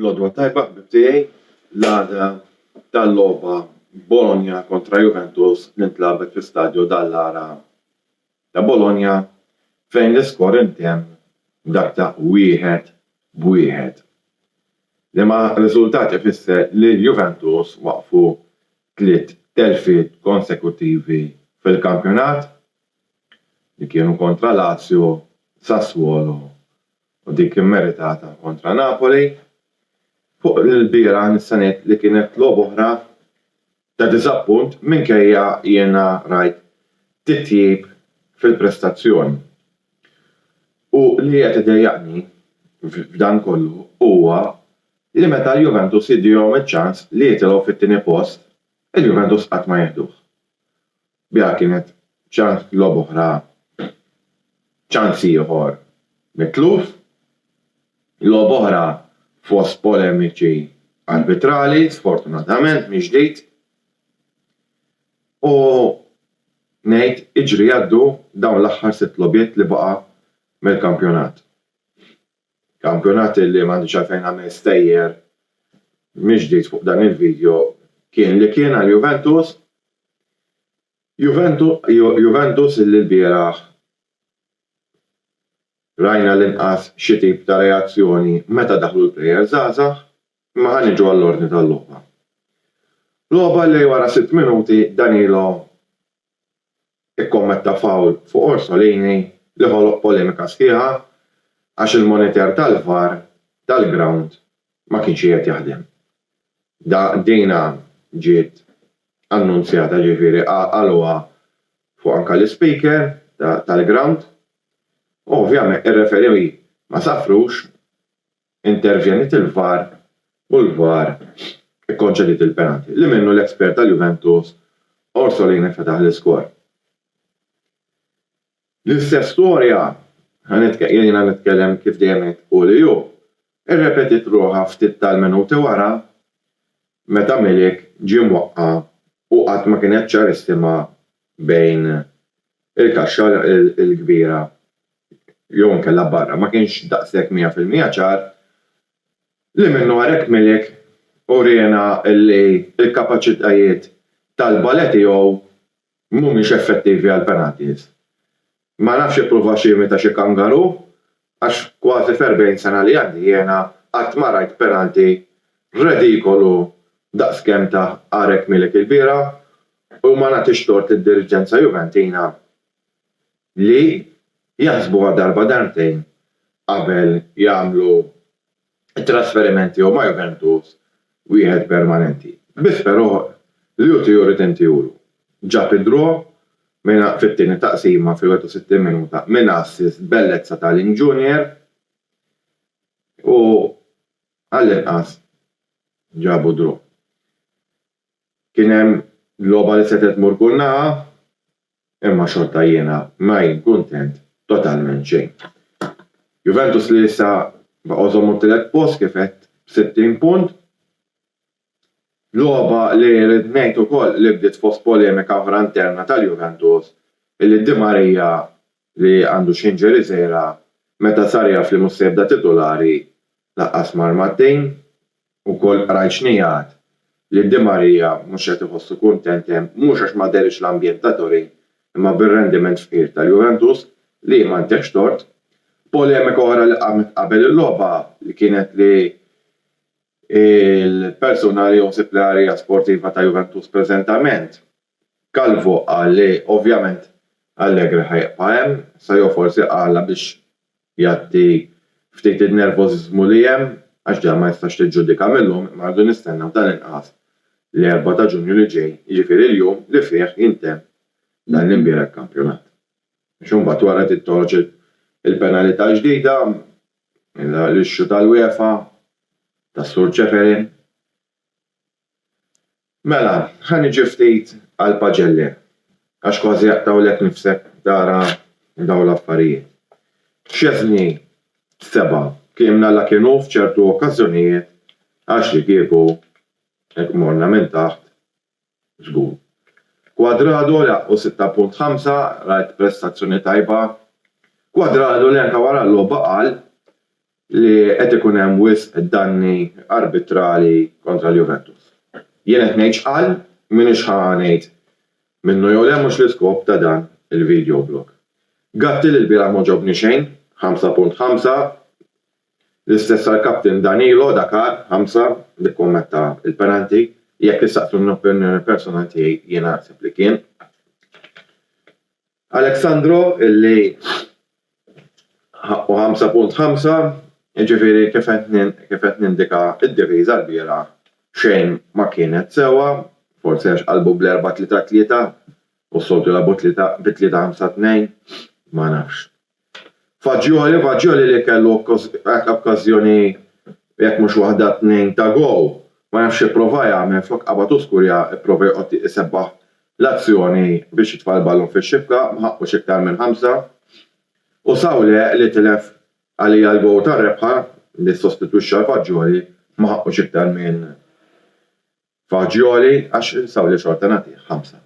L-għodwa tajba ħbib tiegħi, l-għada tal-logħba Bologna kontra Juventus tintlagħbet fi Stadio Dallara ta' Bologna fejn l-iskor intemm b'dak ta' wieħed b'wieħed. Liema riżultat ifisser li l-Juventus waqfu tliet telfiet konsekuttivi fil-kampjonat li kienu kontra Lazio, Sassuolo u dik immeritata kontra Napoli. Fuq l-ilbieraħ nista' ngħid li kienet logħba oħra ta' diżappunt minkejja jiena rajt titjib fil-prestazzjoni. U li qed idejjaqni f'dan kollu huwa li meta l-Juventus jiddihom iċ-ċans li jitilgħu fit-tieni post, il-Juventus qatt ma jieħduh. Biha kienet ċans logħob oħra, ċans ieħor mitluf, logħob oħra fost polemiċi arbitrali, sfortunatament mill-ġdid, u ngħid iġri jgħaddu dawn l-aħħar sitt logħbiet li baqa' mill-kampjonat. Kampjonat li m'għandix għalfejn nagħmel stejjer mill-ġdid fuq dan il-video kien li kien għal Juventus, Juventus li lbieraħ rajna l-inqas xi tip ta' reazzjoni meta daħlu l-plejers żgħażagħ, imma ħa niġu għall-ordni tal-logħba. Logħba li wara sitt minuti Danilo ikkommetta fawl fuq Orsolini li ħoloq polemika sħiħa għax il-monitor tal-VAR tal-grawnd ma kienx qiegħed jaħdem. Dina ġiet annunzjata ġifieri qaluha fuq anke l-ispeaker tal-grawnd u ovvjament ir-referee ma safrux Intervjeniet il-VAR u l-VAR ikkonċediet il-penalty li minnu l-espert tal-Juventus Orsolini fetaħ l-iskor. L-istess storja, jiena nitkellem kif dejjem ngħid hu li hu, irrepetiet ruħha ftit tal-minuti wara meta Milik ġie mwaqqa' u qatt ma kienet ċarissima bejn il-kaxxa il-kbira jew inkella barra, ma kienx daqshekk mija fil-mija ċar li minnu għarek Milik uriena li l-kapaċitajiet tal-bale tiegħu mhumiex effettivi għall-penalties. Ma nafx ippruvax jimita xi kangaru għax kważi f'erbgħin sena li għandi jiena qatt ma rajt penalty redikolu daqskemm ta Għarek Milik ilbieraħ u ma nagħtix tort lid-diriġenza Juventina li jaħsbuha darba darbtejn qabel jagħmlu t-trasferiment jew ma' Juventus wieħed permanenti. Biss però li hu tiegħu jrid intiehulu. Ġab id-draw fit-tieni taqsima fil-61 minuta minn assist bellezza ta' Ling Junior u għallinqas ġabu draw. Kien hemm logħba li setgħet tmur kull naħa, imma xorta jiena ma jien kuntent totalment xejn. Juventus li issa baqgħu żommu t-tielet post kif għedt b'60 punt. Logħba li rrid ngħid ukoll li bdiet fost polemika oħra interna tal-Juventus illi Di Maria li għandu x'jinġeri sejra meta sar jaf li mhux se jibda titulari laqqas ma' armattejn. Ukoll qrajt xnigħat li Di Maria mhux qed iħossu kuntent hemm mhux għax ma dehriex l-ambjent ta' Torin imma bir-rendiment fqir tal-Juventus li m'għandekx tort. Polemika oħra li qamet qabel il-logħba li kienet li l-persuna li hu sipljarja sportiva ta' Juventus preżentament, Calvo qal li ovvjament Allegri ħa jibqa' hemm, Saio forsi qalha biex jgħatti ftit in-nervożiżmu li hemm għax dan ma jistax tiġġudika mil-lum imma rridu nistennew dan il-każ l-Erbgħa ta' Ġunju li ġej, jiġifieri l-jum li fih jintemm dan l-imbieraħ kampjonat. Għax imbagħad wara trid toħroġ il-penalità l-ġdida, l-issue tal-UEFA, tas-Sur Ceferin. Mela, ħa niġi ftit għall-paġelli, għax kważi aqtgħulek nifsek tara dawn l-affarijiet. Szczesny, 7, Kliemna la kien hu f'ċertu okkażjonijiet għax li kieku hekk morna minn taħt żgur. Cuadrado laħqu 6.5, rajt prestazzjoni tajba. Cuadrado li anke wara l-logħba qal li qed ikun hemm wisq danni arbitrali kontra l-Juventus. Jien qed ngħid x'qal, m'iniex ħa ngħid minnu jew le mhux l-iskop ta' dan il-video blog. Gatti li lbieraħ m'għoġobni xejn, 5.5, l-istess għall-captain Danilo da Car, 5, li kkommetta l-penalty, jekk issaqsuni l-opinjoni personal tiegħi jiena naħseb li kien. Alexandro illi ħaqqu 5.5, jiġifieri kif qed nindika d-diviża lbieraħ xejn ma kienet sewwa, forsi għax qalbu bl-4-3-3 u s-soltu jilagħbu bi 3-5-2, ma nafx. Fagioli, Fagioli li kellu okkażjoni jekk mhux waħda tnejn ta' gowl, ma jafx x'ipprova jagħmel flok qabad u skurja pprova joqgħod isebbaħ l-azzjoni biex jitfa' l-ballun fix-xibka, ma ħaqqux iktar minn ħamsa. U Saule li tilef għalija l-gowl tar-rebħa li ssostitwixxa 'l Fagioli, ma ħaqqux iktar minn Fagioli għax Saule xorta nagħtih ħamsa.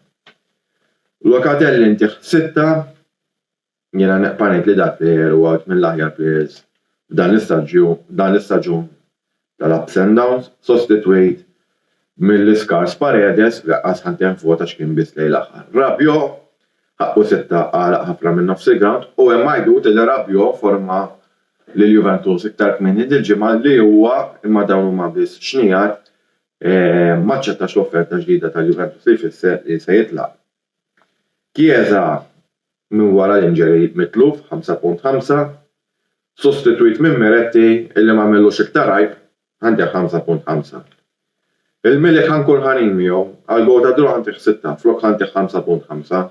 Locatelli ntih sitta, Jiena neqpa' ngħid li dal player huwa wieħed mill-aħjar players f'dan l-istaġun tal-ups and downs, sostitwit mill-iskars Paredes li laqqas ħa ntehn f'vot għax kien biss lejn l-aħħar. Rabiot, ħaqqu sitta, għalaq ħafna minn nofs il-grawnd u hemm għajdut li Rabiot forma lil Juventus iktar kmieni dil-ġimgħa li huwa, imma dawn huma biss xnigħat, m'aċċettax l-offerta ġdida tal-Juventus li jfisser li se jitlaq. Chiesa minn wara l-injury mitluf 5.5, sostitwit minn Miretti illi m'għamellux iktar għajb għandih 5.5. Il-Milik ħa nkun ħanin miegħu, għall-gowl ta' draw ħa ntih 6 flok ħa ntih 5.5.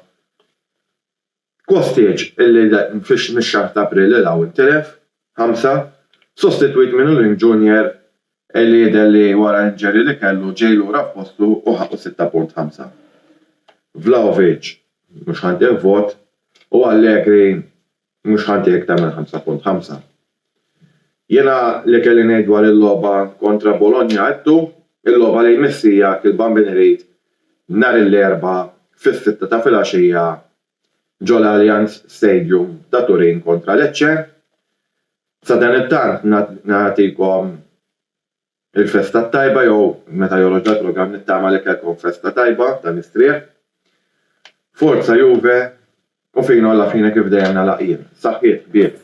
Kostic, illi mix-xahar ta' April 'il hawn tilef, ħamsa, sostitwit minn Uling Junior illi jidher li wara injury li kellu ġej lura f'postu u ħaqqu sitta punt ħamsa. Vlahovic, mhux ħa ntih vot, u Allegri, mhux ħa ntih iktar minn ħamsa punt ħamsa. Jiena li kelli ngħid dwar il-logħba kontra Bologna għedtu, il-logħba li jmiss hija Kilban Bin Għrid nhar il-Erbgħa fis-sitta ta' filgħaxija ġol-Allianz Stadium ta' Turin kontra Lecce. Sadanittant nagħtikom Il-festa t-tajba jew meta joroġ għad-drogan nittama li kellkom festa tajba dan is-srieħ. Forza Juve u fina u la fine kif dejjem nagħlaq jien. Saħħiet ħbieb.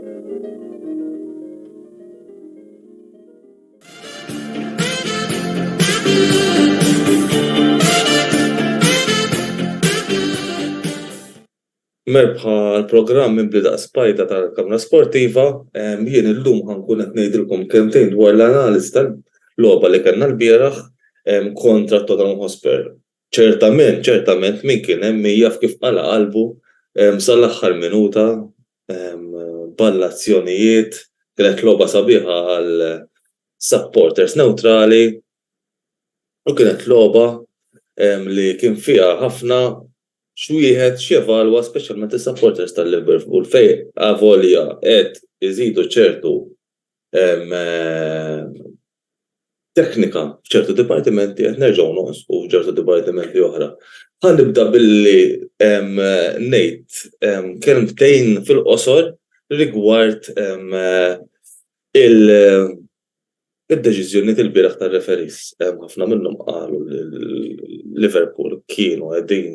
Merbħa għal programm mibli daqs spajda tal-Kamra Sportiva, jien illum ħankun qed ngħidilkom kelmtejn dwar l-analiżi tal-logħba li kellna l-bieraħ kontra Tottenham Hotspur. Ċertament, ċertament min kien hemm min jaf kif qala' qalbu sal-aħħar minuta ball-azzjonijiet, kienet logħba sabiħa għal supporters newtrali u kienet logħba li kien fiha ħafna x'wieħed x'jevalwa speċjalment is-supporters tal-Liverpool fejn avolja qed iżidu ċertu teknika f'ċertu dipartimenti qed nerġgħu nonsqu f'ċertu dipartimenti oħra. Ħa nibda billi ngħid kelmtejn fil-qosor rigward il-deċiżjonijiet ilbieraħ tar-referees. Ħafna minnhom qalu li Liverpool kienu qegħdin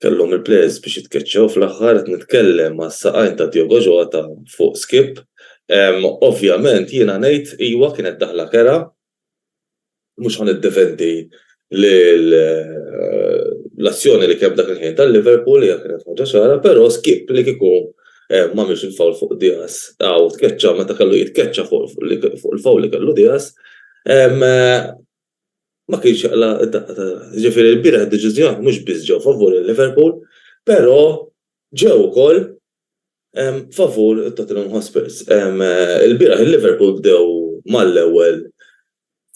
kellhom il-players biex jitkeċċew fl-aħħar qed nitkellem mas-saqajn ta' Diogo Jota fuq skip. Ovvjament jiena ngħid iwa kienet daħla kerha, mhux ħa niddefendi lil l-azzjoni li kien dak il-ħin tal-Liverpool hija kienet ħaġa ċara, però skip li kieku m'għamilx il-foul fuq Diaz u tkeċċa meta kellu jitkeċċa fuq il-foul li kellu Diaz, ma kienx jaqla' d-daqqa ta' ras. Jiġifieri ilbieraħ id-deċiżjoni mhux biss ġew favur il-Liverpool, però ġew ukoll favur it-Tottenham Hotspurs. Ilbieraħ il-Liverpool bdew mal-ewwel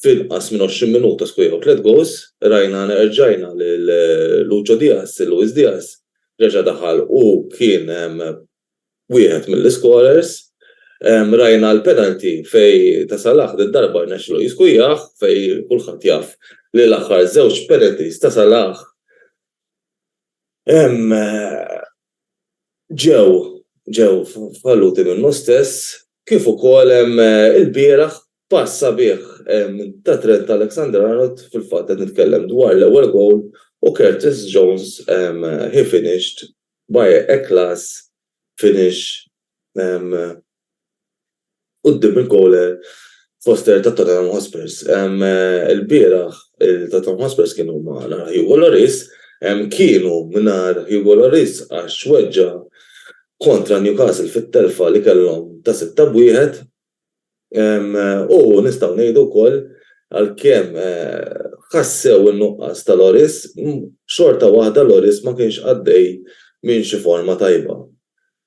f'inqas minn 20 minuta skorjaw tliet goals. Rajna rġajna lil Lucho Diaz, Luis Diaz reġa' daħal u kien wieħed mill-iskorers. Rajna l-penalty fejn ta' Salah did-darba rnexxielu jiskujjah fejn kulħadd jaf li l-aħħar żewġ penalties ta' Salah ġew ġew falluti minnu stess kif ukoll ilbieraħ pass sabiħ ta' Trent Alexander-Arnold, fil-fatt qed nitkellem dwar l-ewwel gowl, u Curtis Jones he finished By a class finish quddiem il-goaler poster ta' Tottenham Hotspurs. Ilbieraħ il-Tottenham Hotspurs kienu mingħajr Hugo Lloris, kienu mingħajr Hugo Lloris għax weġġa' kontra Newcastle fit-telfa li kellhom ta' sitta b'wieħed. U nistgħu ngħidu wkoll għalkemm ħassew in-nuqqas ta' Loris, xorta waħda Loris ma kienx għaddej minn xi forma tajba.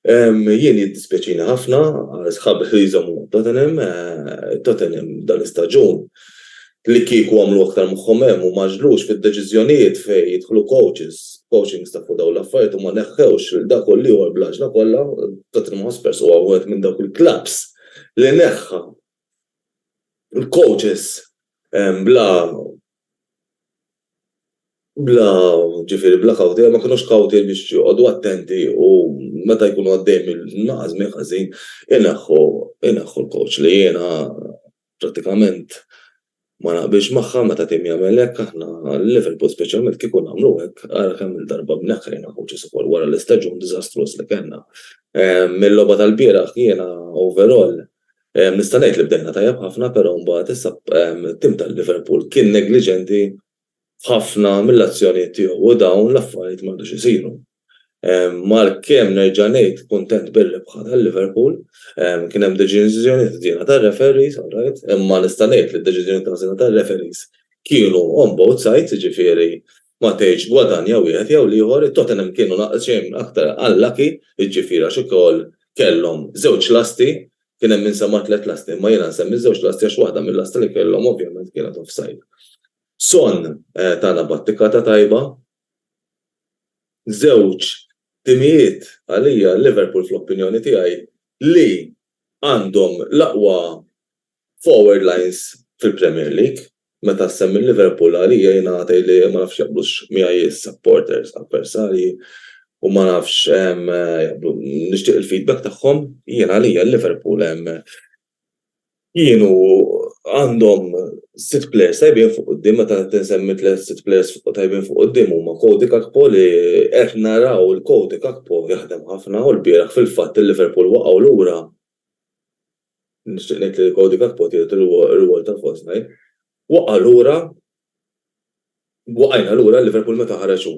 Jien jiddispjaċini ħafna għal sħabi li jżommu ma' Tottenham, Tottenham dan l-istaġun li kieku għamlu aktar moħħhom hemm u ma għaġġlux fid-deċiżjonijiet fejn jidħlu coaches, coaching staff u dawn l-affarijiet u ma neħħewx lil dak u l-ieħor bl-għaġla kollha, Tottenham Hotspurs huwa wieħed minn dawk il-klabbs li neħħa l-coaches bla bla ġifieri bla kawti, ma kinux kawti biex joqogħdu attenti u meta jkunu għaddejjin minn nuqqas żmien ħażin ineħħu ineħħu l-coach li jiena Prattikament ma naqbilx magħha meta tim jagħmel hekk, aħna Liverpool speċjalment kieku nagħmlu hekk, ara kemm-il darba bneħħrejna coaches ukoll wara l-istaġun diżastruż li kellna. Mill-logħba tal-bieraħ jiena overall nista' ngħid li bdejna tajjeb ħafna però mbagħad issa tim tal-Liverpool kien negliġenti f'ħafna mill-azzjonijiet tiegħu u dawn l-affarijiet m'għadux isiru. Mark Keane nerġa' ngħid kuntent bir-rebħa ta' Liverpool. Kien hemm deċiżjonijiet ħżiena tar-referees, alright, imma nista' ngħid li d-deċiżjonijiet ħżiena tar-referees kienu on both sides, jiġifieri ma tgħidx gwadanja wieħed jew l-ieħor, it-Tottenham kienu daqsxejn aktar unlucky, jiġifieri għax ukoll kellhom żewġ lasti Kien hemm min sema' tliet lasti imma jiena nsemmi żewġ lasti għax waħda mil-lasti li kellhom ovvjament kienet offside. Son tana battikata tajba. Żewġ timijiet għalija, Liverpool fl-opinjoni tiegħi, li għandhom l-aqwa forward lines fil-Premier League. Meta ssemmi l-Liverpool għalija jien għatgħid li ma nafx jaqblux miegħi s-supporters avversarji u ma nafx jaqblu nixtieq il-feedback tagħhom. Jien għalija l-Liverpool kienu għandhom sitt players tajbin fuq quddiem meta tinsemmi tliet sitt players tajbin fuq quddiem huma Cody Gakpo li qed naraw il-Cody Gakpo jaħdem ħafna u l-bieraħ fil-fatt il-Liverpool waqgħu lura nixtieq ngħid li Cody Gakpo tieħed ir-rwol ta' false nine, waqa' lura, waqajna lura Liverpool meta ħareġ hu.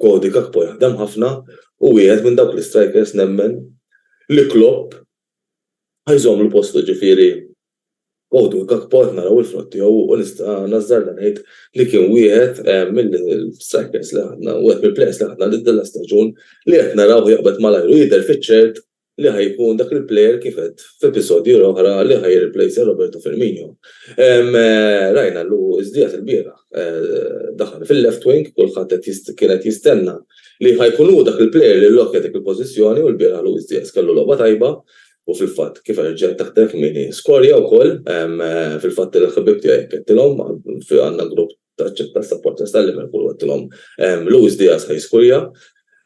Cody Gakpo jaħdem ħafna u wieħed minn dawk l-istrikers nemmen li Klopp ħa jżommlu postu ġifieri Cody Gakpo qed naraw il-frott tiegħu u nista' nażżarda ngħid li kien wieħed mill-istrikers li ħadna, wieħed mill-plejers li ħadna din l-istaġun li qed narawh jaqbad malajr u jidher fiċ-ċert li ħa jkun dak il-player kif għedt f'episodji l-oħra li ħa jirreplejsa Roberto Firmino. Rajna Luis Diaz il-bieraħ daħal fil-left wing, kulħadd qed kien qed jistenna li ħa jkun hu dak il-player li llokkja dik il-pożizzjoni u l-bieraħ Luis Diaz kellu logħba tajba u fil-fatt kif erġa' taħdem kmieni skorja wkoll, fil-fatt il-ħbieb tiegħi qed ngħidilhom għandna grupp taċċetta s-supporters ta' Liverpool u għedtilhom Luis Diaz ħaj skurja.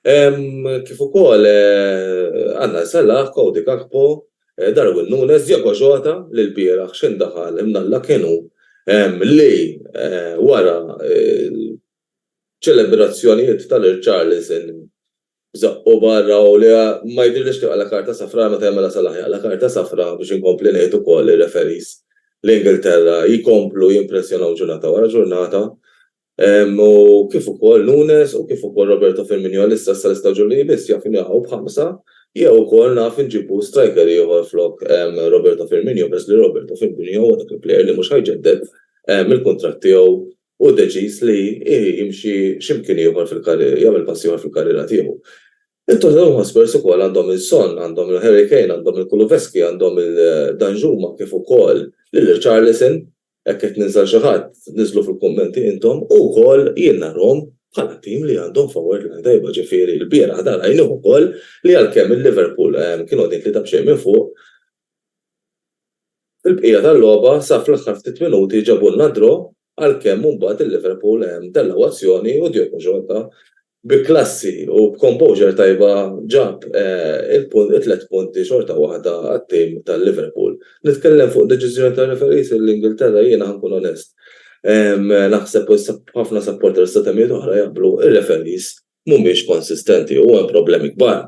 Kif ukoll għandna Salah, Cody Gakpo, Darwin Nunes, Diego Jota li l-bieraħ xejn daħal imnalla kienu li wara ċelebrazzjonijiet tal-irċarlison Żaqqu barra u li ma jidhirlix kif għala karta safra meta jagħmilha Salah jaqla' karta safra biex inkompli ngħid ukoll li r-referees l-Ingilterra jkomplu jimpressjonaw ġurnata wara ġurnata u kif ukoll Nunes u kif ukoll Roberto Firminio li issa sal-istaġun li jmiss jaf inilagħqu b'ħamsa jew ukoll naf inġibu striker ieħor flok Roberto Firminio peress li Roberto Firminio huwa dak il-player li mhux ħa jġedded il-kuntratt tiegħu hu deċiż li jimxi xi mkien ieħor fil-karriera, jagħmel pass ieħor fil-karriera tiegħu. Il-Tottenham Hotspurs ukoll għandhom lil Son, għandhom lil Harry Kane, għandhom lil Kulusevski, għandhom lil Danjuma kif ukoll lil Richarlison, jekk qed ninsa xi ħadd niżlu fil-kummenti intom, u wkoll jien narahom bħala tim li għandhom forward line tajba, ġifieri l-bieraħ dan rajnieh ukoll li għalkemm il-Liverpool kienu qegħdin tlieta b'xejn minn fuq, Fil-bqija tal-logħba sa fl-aħħar ftit minuti ġabulna d-draw għalkemm mbagħad il-Liverpool tellgħu azzjoni u Diogo Jota bi klassi u b'composure tajba ġab it-tliet punti xorta waħda għat-tim tal-Liverpool. Nitkellem fuq deċiżjoni tar-referees l-Ingilterra jiena ħa nkun onest naħseb u ħafna supporters ta' temijiet oħra jaqblu r-referees mhumiex konsistenti u hemm problemi kbar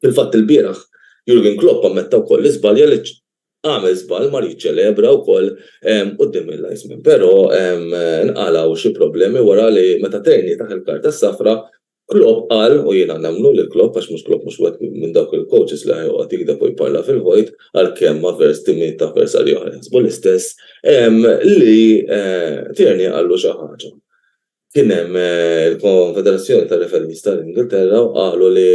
Fil-fatt ilbieraħ Jurgen Klopp ammetta wkoll li żbalja għaliex għamel żball mar jiċċelebra wkoll quddiem il-linesmen però nqalgħu xi problemi wara li meta tgħinitaħ il-karta s-safra Klopp qal, u jiena nemmnu lil Klopp għax mhux Klopp mhux wieħed minn dawk il-coaches li joqgħod jigdeb u jparla fil-vojt għalkemm avers timijiet ta' avversarji oħra jaħsbu l-istess li Tierney qallu xi ħaġa. Kien hemm il-Konfederazzjoni tar-Referees tal-Ingilterra u qalu li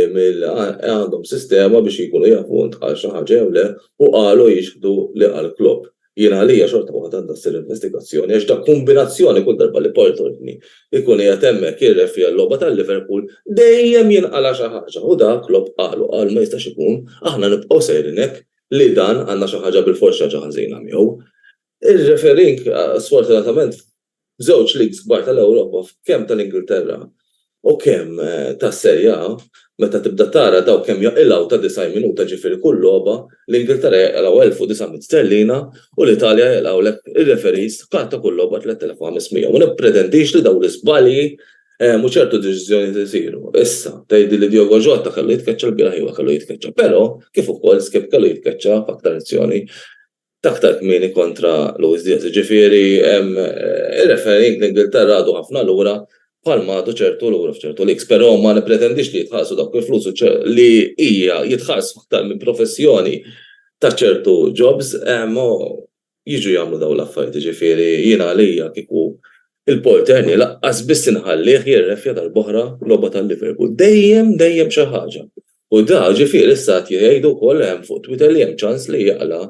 għandhom sistema biex jkunu jafu int qal xi ħaġa jew le u qalu jixhdu li qal Klopp. Jien għalija xorta waħda għandha ssir investigazzjoni għax dak kumbinazzjoni kull darba li Paul Courtney jkun qiegħed hemmhekk jirrefrija logħba ta' Liverpool dejjem jinqala' xi ħaġa u dak Klopp qalu qal ma jistax ikun aħna nibqgħu sejrin hekk li dan għandna xi ħaġa bilfors xi ħaġa ħażina miegħu. Ir-refereeing sfortunatament Żewġ leagues kbar tal-Ewropa f'kemm tal-Ingilterra u kemm tas-Serie A, meta tibda tara dawk kemm jaqilgħu ta' 90 minuta ġifieri kull logħba, l-Ingilterra jaqilgħu 1900 sterlina u l-Italja jaqilgħulek ir-referees bħal ta' kull logħba 3500. Ma nippretendix li dawn l-iżbalji u ċertu deċiżjonijiet isiru. Issa, tgħidli li Diogo Jota kellu jitkeċċa lbieraħ iva kellu jitkeċċa, però kif ukoll Skipp kellu jitkeċċa f'aktar azzjoni. Aktar kmieni kontra Luis Diaz. Jiġifieri ir-refereeing fl-Ingilterra għadu ħafna lura bħalma għadu ċertu lura f'ċertu leagues. Però ma nippretendix li jitħallsu dawk il-flus li hija jitħallsu aktar minn professjoni ta' ċertu jobs u jiġu jagħmlu dawn l-affarijiet. Jiġifieri jiena għalija kieku l-porter nhi lanqas biss inħallih jirreffja darb'oħra logħba tal-Liverpool. Dejjem, dejjem xi ħaġa. U da, ġifieri issa qed jgħidu wkoll hemm fuq Twitter li hemm ċans li jaqla'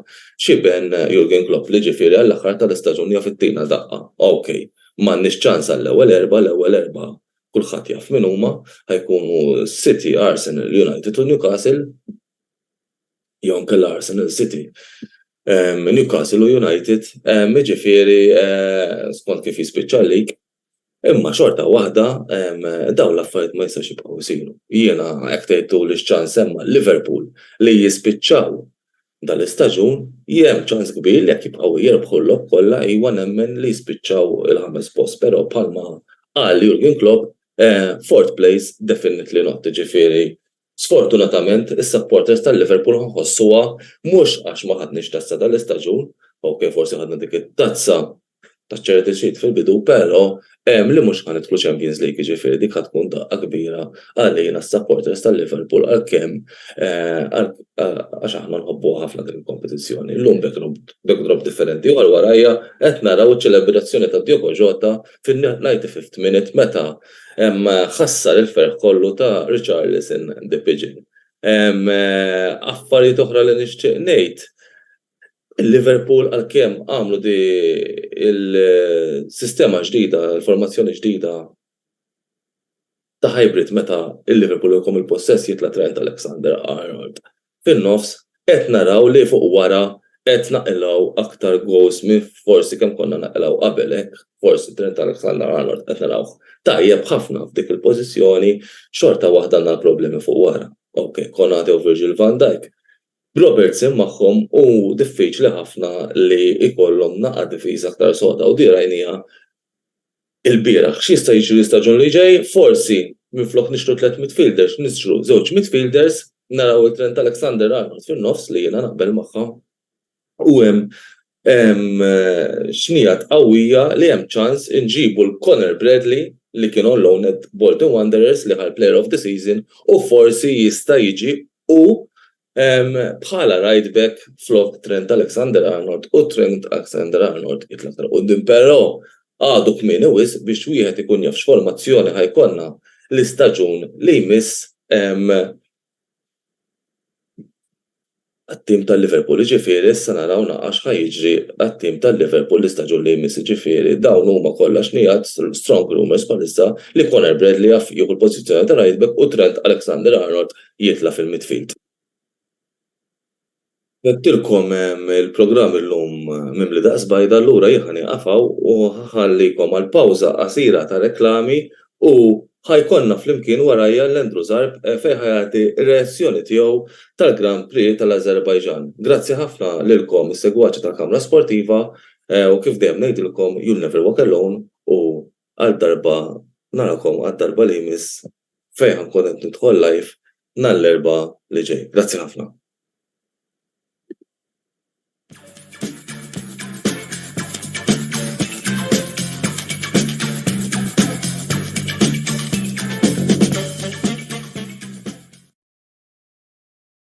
xiben Jurgen Klopp li ġifieri għall-aħħar tal-istaġun jaf ittina daqqa. Ok, m'għandniex ċans għall-ewwel erbgħa, l-ewwel erbgħa kulħadd jaf min huma, ħa jkunu City, Arsenal, United u Newcastle, jew inkella Arsenal, City, Newcastle u United, jiġifieri skont kif jispiċċa l-lig, Imma xorta waħda dawn l-affarijiet ma jistgħux jibqgħu jsiru. Jiena hekk tgħid tuli x-ċans hemm għal Liverpool li jispiċċaw dal-istaġun, hemm ċans kbir li jekk jibqgħu jirbħu l-logħob kollha iwa nemmen li jispiċċaw il-ħames post però bħalma qal Jurgen Klopp fourth place definitely not jiġifieri Sfortunatament, is-supporters tal-Liverpool ħossuha mhux għax ma ħadniex tazza dan l-istaġun, ok forsi ħadna dik it-tazza taċ-Charity Shield fil-bidu pero hemm li mhux ħa nidħlu Champions League jiġifieri dik ħa tkun daqqa kbira għalina s-supporters tal-Liverpool għalkemm għax aħna nħobbuha ħafna din il-kompetizzjoni. Illum backdrop differenti u għal warajja qed naraw iċ-ċelebrazzjoni ta' Diogo Jota fin-95 minute meta ħassar il-ferħ kollu ta' Richarlison the Pigeon. Affarijiet oħra li nixtieq ngħid, Liverpool għalkemm għamlu di l-sistema ġdida, l-formazzjoni ġdida, ta' hybrid meta l-Liverpool iqum il-possess jitla' Trent Alexander-Arnold fin-nofs qed naraw li fuq wara qed naqilgħu aktar goals minn forsi kemm konna naqilgħu qabel hekk forsi Trent Alexander-Arnold qed narawh tajjeb ħafna f'dik il-pożizzjoni xorta waħda għandna l-problemi fuq wara ok Konate u Virgil van Dijk b'Robertson magħhom hu diffiċli ħafna li jkollhom naqa' difiża aktar soda u din rajnieha ilbieraħ. X'jista' jiġri l-istaġun li ġej? Forsi, minflok nixtru tliet midfielders, nixtru żewġ midfielders, naraw it-Trent Alexander-Arnold fin-nofs li jiena naqbel magħha u hemm xnigħat qawwija li hemm ċans inġibu 'l Conor Bradley li kien on-loan at Bolton Wanderers li ħa l-Player of the Season u forsi jista' jiġi hu Bħala right back flok Trent Alexander-Arnold u Trent Alexander-Arnold jitla' aktar quddiem però għadu kmieni wisq biex wieħed ikun jaf x'formazzjoni ħa jkollna l-istaġun li jmiss għat-tim ta' Liverpool. Jiġifieri issa naraw naqra x'ħa jiġri għat-tim ta' Liverpool l-istaġun li jmiss. Jiġifieri dawn huma kollha xnigħat, strong rumours bħalissa, li Conor Bradley jaf jieħu l-pożizzjoni ta' right back u Trent Alexander-Arnold jitla' fil-midfield. Għedtilkom il-programm illum mimli daqs bajda allura jien ħa nieqaf hawn u ħa ħallikom għal pawża qasira ta' reklami u ħa jkollna flimkien warajja 'l Andrew Zarb fejn ħa jagħti r-reazzjoni tiegħu tal-Grand Prix tal-Azerbaijan. Grazzi ħafna lilkom is-segwaċi tal-Kamra Sportiva u kif dejjem ngħidilkom you'll never walk alone u Għal darba narakom għad darba li jmiss fejn ħa nkun qed nidħol live nhar l-Erbgħa li ġej. Grazzi ħafna.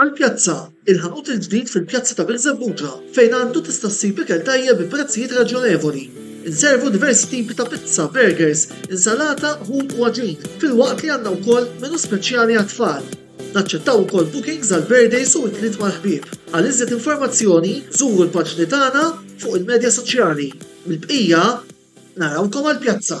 Għall-pjazza, il-ħanut il-ġdid fil-pjazza ta' Birżebbuġa fejn għandu tista' ssib ikel tajjeb bi prezzijiet raġjonevoli. Inservu diversi tipi ta' pizza, burgers, insalata, ħut u għaġin, filwaqt li għandna wkoll menu speċjali għat-tfal. Naċċettaw ukoll bookings għal birthdays u ikliet mal-ħbieb. Għal iżjed informazzjoni żuru l-paġni tagħna fuq il-medja soċjali. Mill-bqija, narawkom għall-pjazza!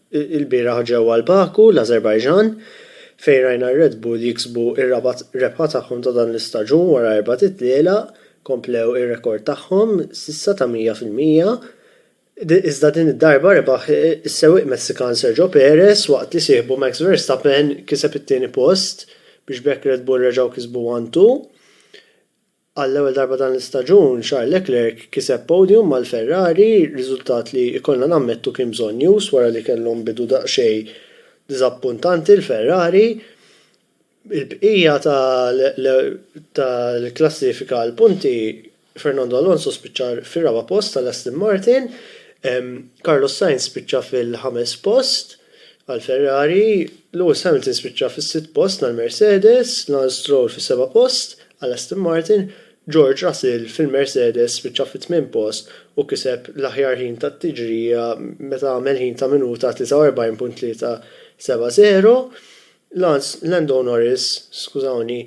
Ilbieraħ ġewwa l-Baku, l-Ażerbajġan, fejn rajna r-Red Bull jiksbu r-raba' rebħa tagħhom ta' dan l-istaġun wara erba' titlielaq, komplew ir-rekord tagħhom s'issa ta' 100 fil-mija, iżda din id-darba rebaħ is-sewwieq Messikan Sergio Perez waqt li sieħbu Max Verstappen kiseb it-tieni post biex b'hekk Red Bull reġgħu kisbu one-two. Għall-ewwel darba dan l-istaġun, Charles Leclerc kiseb podium mal-Ferrari, riżultat li jkollna nammettu kien bżonnjuż wara li kellhom bidu daqsxejn diżappuntanti l-Ferrari. Il-bqija tal-klassifika għall-punti, Fernando Alonso spiċċa fir-raba' post għal Aston Martin, Carlos Sainz spiċċa fil-ħames post, Għal Ferrari, Lewis Hamilton spiċċa fis-sitt post nhar Mercedes, Lance Stroll fis-seba' post għal Aston Martin, George Russell fil-Mercedes spiċċa fit-tmien post u kiseb l-aħjar ħin tat-tiġrija meta għamel ħin ta' minuta 43.370, Lance Lando Norris, skużawni,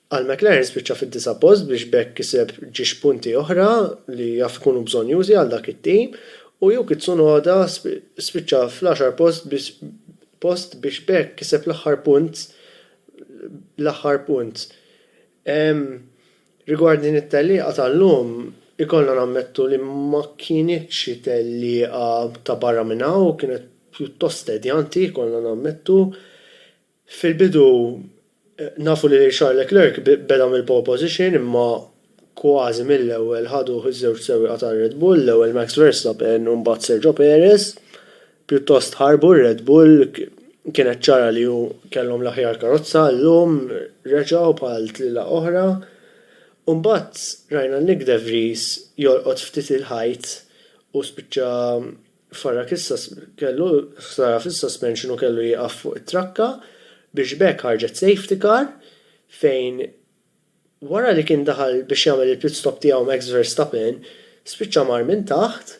Għal McLaren spiċċa fid-disa' post biex b'hekk kiseb ġiex punti oħra li jaf ikunu bżonnjużi għal dak it-tim u Yuki Tsunoda spiċċa fl-għaxar post biex post biex b'hekk kiseb l-aħħar punt l-aħħar punt. Ehm rigward din it-tellieqa tal-lum ikollna nammettu li ma kinitx xi tellieqa ta' barra minn hawn kienet pjuttost tedjanti ikollna nammettu. Fil-bidu nafu li lil Charles Leclerc beda mill-pole position imma kważi mill-ewwel ħaduh iż-żewġ sewwieqa tar-Red Bull, l-ewwel Max Verstappen u mbagħad Sergio Perez. Pjuttost ħarbu r-Red Bull, kienet ċara li hu kellhom l-aħjar karozza, llum reġgħu bħal tlielaq oħra. U mbagħad rajna Nyck de Vries jolqot ftit il-ħajt u spiċċa Farah fis-suspension u kellu jieqaf fuq it-trakka biex b'hekk ħarġet safety car fejn wara li kien daħal biex jagħmel il-pit stop tiegħu Max Verstappen spiċċa mar minn taħt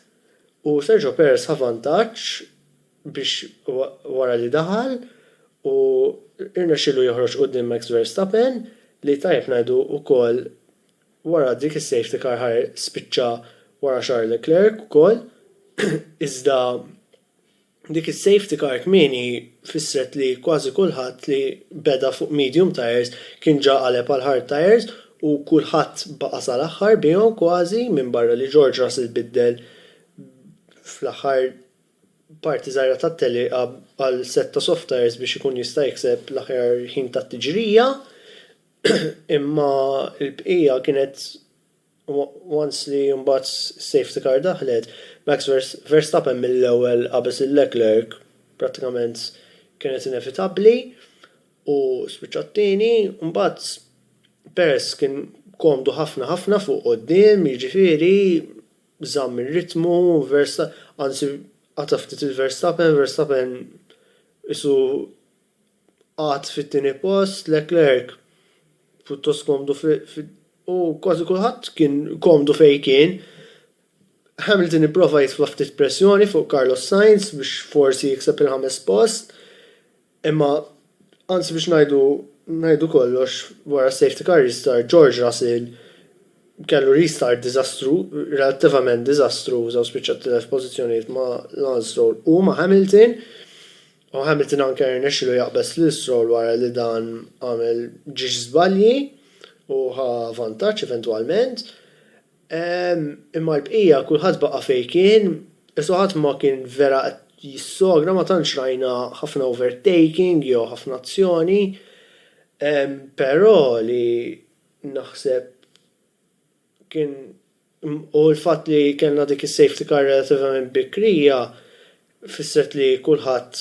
u Sergio Perez ħa vantaġġ biex wara li daħal u rnexxielu joħroġ quddiem Max Verstappen li tajjeb ngħidu wkoll Wara dik is-safety car ħa spiċċa wara Charles Leclerc ukoll iżda dik is-safety car kmieni fissret li kważi kulħadd li beda fuq medium tyres kien ġa qaleb għal hard tyres u kulħadd baqa' sal-aħħar bihom kważi minbarra li George Russell biddel fl-aħħar parti żgħira tat-tellieqa għal sett ta' soft tyres biex ikun jista' jikseb l-aħjar ħin tat-tiġrija. Imma l-bqija kienet once li mbagħad is-safety car daħlet, Max Verstappen mill-ewwel qabeż lil Leclerc, prattikament kienet inevitabbli u spiċċa t-tieni, mbagħad Perez kien komdu ħafna ħafna fuq quddiem, jiġifieri żamm ir-ritmu, anzi qata' ftit lil Verstappen, Verstappen qisu Qagħad fit-tieni post, Leclerc pjuttost komdu u kważi kulħadd kien komdu fejn kien. Hamilton ipprova jitfa' ftit pressjoni fuq Carlos Sainz biex forsi jikseb il-ħames post, imma anzi biex ngħidu ngħidu kollox wara safety car restart George Russell kellu restart diżastru, relattivament diżastruża u spiċċa tilef pożizzjonijiet ma' Lance Stroll u ma' Hamilton. U Hamilton anke rnexxielu jaqbeż lil Stroll wara li dan għamel ġiex żbalji u ħa vantaġġ eventwalment. Imma l-bqija kulħadd baqa' fejn kien, isu ħadd ma kien vera qed jissogra, ma tantx rajna ħafna overtaking jew ħafna azzjoni. Però li naħseb kien U l-fatt li kellna dik is-safety car relativament bikrija fissret li kulħadd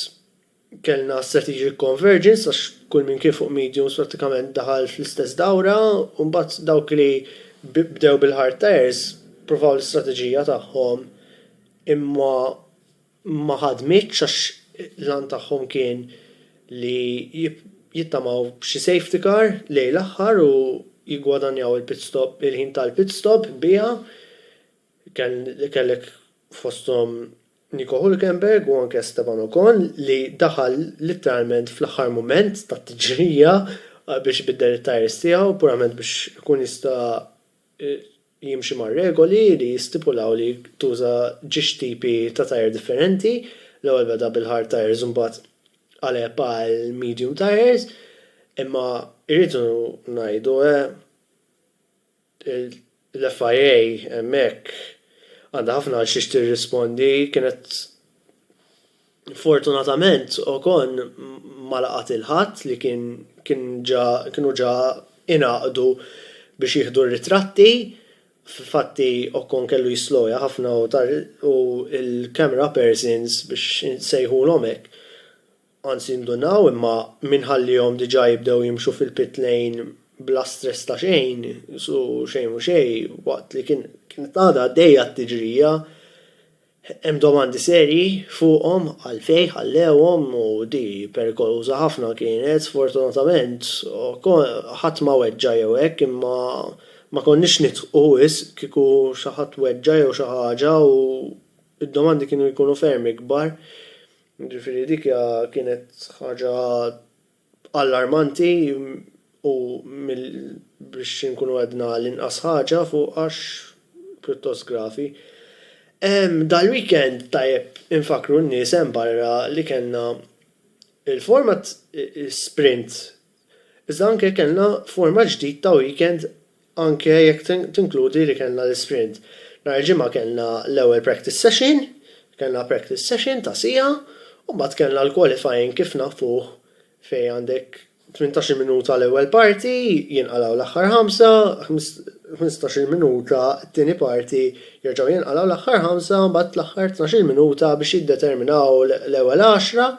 kellna strategic convergence għax kull min kien fuq mediums prattikament daħal fl-istess dawra u mbagħad dawk li bdew bil-hard tyres provaw l-istrateġija tagħhom imma ma ħadmitx għax l-għan tagħhom kien li jittamaw b'xi safety car lejn l-aħħar u jiggwadanjaw il-pit stop, il-ħin tal-pit stop biha. Kellek fosthom Nico Hulkenberg u anke Esteban Ocon li daħal litteralment fl-aħħar mument tat-tiġrija biex ibiddel it-tyres tiegħu purament biex ikun jista' li jimxi mar-regoli li jistipulaw li tuża ġiex tipi ta' tyre differenti, l-ewwel beda bil-hard tyres u mbagħad qaleb għall-medium tyres, imma rridu ngħidu l-FIA hemmhekk għandha ħafna għal xiex tirrispondi, kienet Fortunatament, Ocon ma laqa' 'til ħadd li kien kien ġa kienu ġa ingħaqdu biex jieħdu r-ritratti. F'fatti Ocon kellu jisslowja ħafna u ta' u l-camera persons biex insejħulhom hekk, anzi ndunaw imma min ħallihom diġà jibdew jimxu fil-pit lane bla stress ta' xejn u xejn mhu xejn waqt li kien kienet għadha għaddejja t-tiġrija. Hemm domandi serji fuqhom għalfejn ħallewhom u di perikoluża ħafna kienet. Sfortunatament ħadd ma weġġa' jew hekk imma ma konniex nidħqu wisq kieku xi ħadd weġġa' jew xi ħaġa u d-domandi kienu jkunu ferm ikbar. Jiġifieri dik hija kienet ħaġa allarmanti u mill biex inkunu għedna l-inqas ħaġa fuq għax pjuttost gravi. Dal-weekend tajjeb infakkru n-nies hemm barra li kellna il-format sprint iżda anke kellna format ġdid ta' weekend anke jekk tinkludi li kellna l-isprint. Nhar il-Ġimgħa kellna l-ewwel practice session, kellna practice session ta' siegħa u mbagħad kellna l-qualifying kif nafuh fejn għandek tmintax-il minuta l-ewwel parti, jinqalgħu l-aħħar ħamsa, ħmistax-il minuta t-tieni parti, jerġgħu jinqalgħu l-aħħar ħamsa u mbagħad l-aħħar tnax-il minuta biex jiddeterminaw l-ewwel għaxra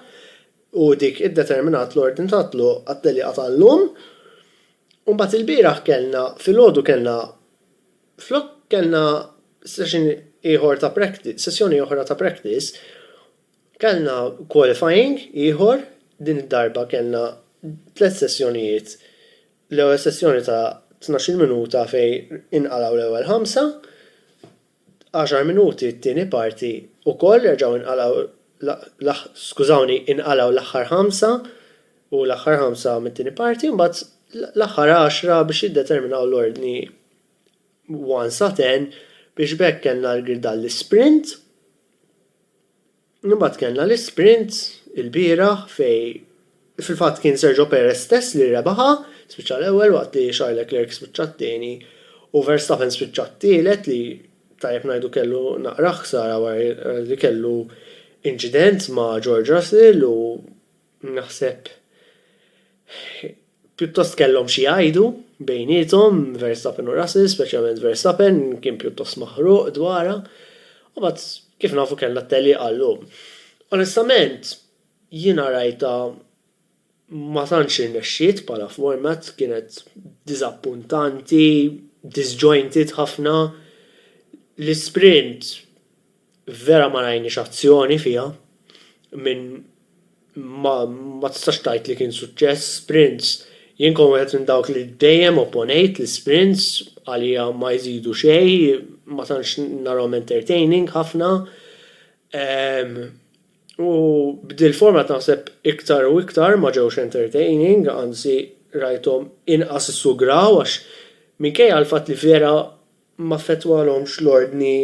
u dik iddeterminat l-ordni tat-tluq għat-tellieqa tal-lum. U mbagħad ilbieraħ kellna, filgħodu kellna, flok kellna session ieħor ta' practice, sessjoni oħra ta' practice, kellna qualifying ieħor, din id-darba kellna tliet sessjonijiet, l-ewwel sessjoni ta' tnax-il minuta fejn inqalgħu l-ewwel ħamsa, Għaxar minuti t-tieni parti ukoll reġgħu inqalgħu l-aħ skużawni inqalgħu l-aħħar ħamsa u l-aħħar ħamsa mit-tieni parti mbagħad l-aħħar għaxra biex jiddeterminaw l-ordni 1 sa 10 biex b'hekk kellna l-gridalli sprint Imbagħad kellna l-isprint ilbieraħ fejn fil-fatt kien Sergio Perez stess li rebaħha, spiċċa l-ewwel waqt li Charles Leclerc spiċċa t-tieni u Verstappen spiċċa t-tielet li tajjeb ngħidu kellu naqra ħsara wara li kellu inċident ma' George Russell u Naħseb pjuttost kellhom xi jgħidu bejniethom, Verstappen u Russell, speċjalment Verstappen kien pjuttost maħruq dwarha. U mbagħad kif nafu kellna t-tegħliqa llum. Onestament, jiena rajtha ma tantx irnexxiet bħala format, kienet diżappuntanti, disjointed ħafna. L-isprint Vera ma rajniex azzjoni fiha minn ma ma tistax tgħid li kien suċċess sprints. Jien kont wieħed minn dawk li dejjem opponejt l-isprints għalija ma jżidu xejn ma tantx narahom entertaining ħafna u b'dil format naħseb iktar u iktar ma ġewx entertaining anzi rajthom inqas issugraw għax minkejja l-fatt li vera m'affettwalhomx l-ordni